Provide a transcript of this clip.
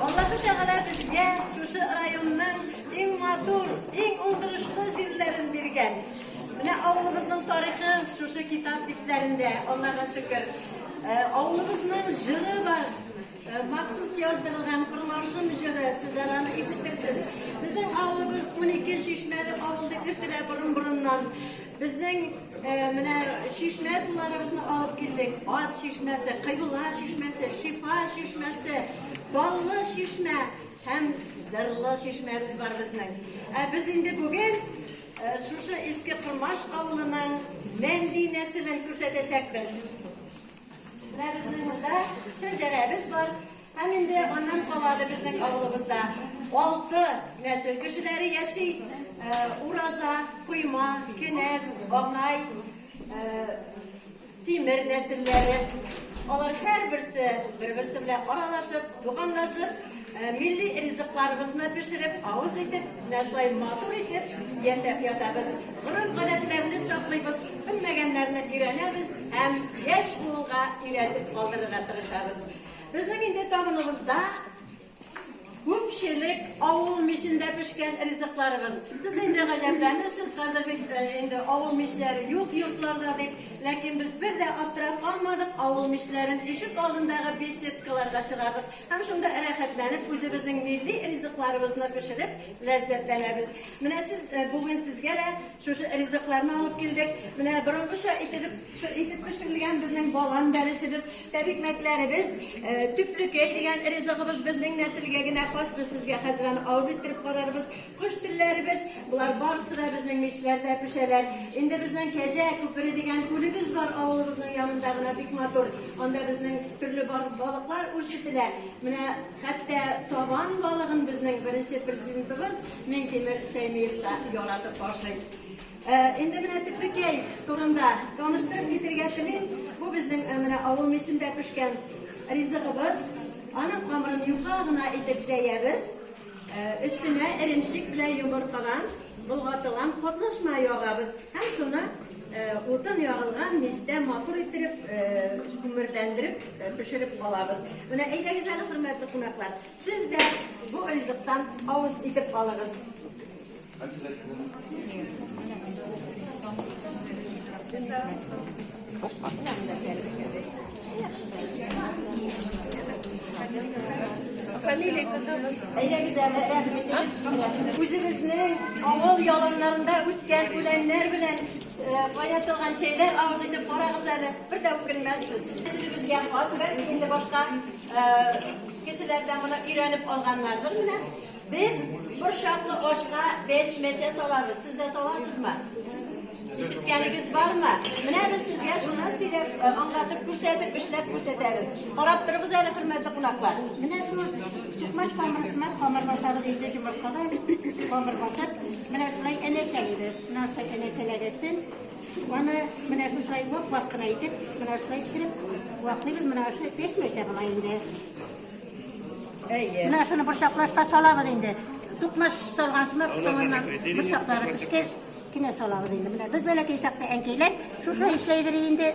Аллаһы Тәгалә безгә шушы районның иң матур, иң уңдырышлы җирләрен биргән. Менә авылыбызның тарихы шушы китап битләрендә, Аллага шөкер. Э, авылыбызның җыры бар, э, махсус яздырылган Кырлашым җыры, сез аны ишетерсез. Безнең авылыбыз 12 чишмәле авыл дип йөртелә борын-борыннан. Безнең менә чишмә суларыбызны алып килдек. Ат чишмәсе, Кыйбла чишмәсе, Шифа чишмәсе, Баллы чишмә һәм Зырлы чишмәбез бар безнең. Ә без инде бүген шушы Иске Кормаш авылының Мәнди нәселен күрсәтәчәкбез. Менә безнең монда шәҗәрәбез бар. Һәм инде аннан калады безнең авылыбызда. Алты нәсел кешеләре яши. Э, ураза, койма, кенәз, бакай, э, тимер нәселләре. Алар һәр берсе бер-берсе белән аралашып, туганлашып, э, милли ризыкларыбызны пешереп, авыз итеп, менә шулай матур итеп яшәп ятабыз. Гореф-гадәтләрне саклыйбыз, белмәгәннәрне өйрәнәбез һәм яшь буынга өйрәтеп калдырырга тырышабыз. Безнең инде табыныбызда күпчелек авыл мичендә пешкән ризыкларыбыз. Сез инде гаҗәпләнерсез, хәзер бит э, инде авыл мичләре юк йортларда дип. Ләкин без бер дә аптырап калмадык, авыл мичләрен ишек алдындагы беседкаларга чыгардык. Һәм шунда рәхәтләнеп үзебезнең милли ризыкларыбызны пешереп ләззәтләнәбез. Менә сез бүген сезгә дә шушы ризыкларны алып килдек. Менә борынгыча итеп итеп пешерелгән безнең балан бәлешебез, тәбикмәкләребез, төплекәй дигән ризыгыбыз безнең нәселгә генә хас. Без сезгә хәзер аны авыз иттереп карарбыз. Кош телләребез, булар барысы да безнең мичләрдә пешәләр. Инде безнең Кәҗә күпере дигән күлебез бар авылыбызның янында гына бик матур. Анда безнең төрле балыклар үрчетелә. Менә хәтта табан балыгын безнең беренче президентыбыз Минтимер Шәймиев та яратып ашый. Ә, инде менә Тепрекәй турында таныштырып китергә телим. Бу безнең ә, менә авыл мичендә пешкән ризыгыбыз. Аның камырын юка гына итеп җәябез. Ә, өстенә эремчек белән йомыркадан болгатылган катнашма ягабыз һәм шуны ә, утын ягылган мичтә матур иттереп, ә, күмерләндереп ә, пешереп калабыз. Менә әйдәгез әле, хөрмәтле кунаклар, Сез дә бу ризыктан авыз итеп алыгыз. Фамилия кызыбыз. Әйдәгез әле рәхмәт итегез. Үзегезне авыл яланнарында үскән үләннәр белән кая торган шәйләр авыз итеп карагыз әле, бер дә үкенмәссез. Сезгә хас бәлки инде башка Кешеләр дә моны өйрәнеп алганнардыр менә. Без борчаклы ашка беш мәчә салабыз. Сез дә саласызмы? Ишеткәнегез бармы? Менә без сезгә шуны сөйләп, э, аңлатып күрсәтеп, эшләп күрсәтәбез. Карап торыгыз әле, хөрмәтле кунаклар. Менә шул чукмаш камырысына камыр басабыз инде йомыркадан камыр басып, менә шулай әнәчәлибез. Нәрсә әнәчәләгәчтен, Аны менә шушылай вак-вак кына итеп, менә шулай иттереп ваклыйбыз. Менә шулай пешмәсә була инде. Әйе. Менә шуны борчаклашка салабыз инде. Тукмаш салган сымак соңыннан борчаклары пешкәч кенә салабыз инде. Менә без бәләкәй чакта әнкәйләр шушылай эшләйдер инде.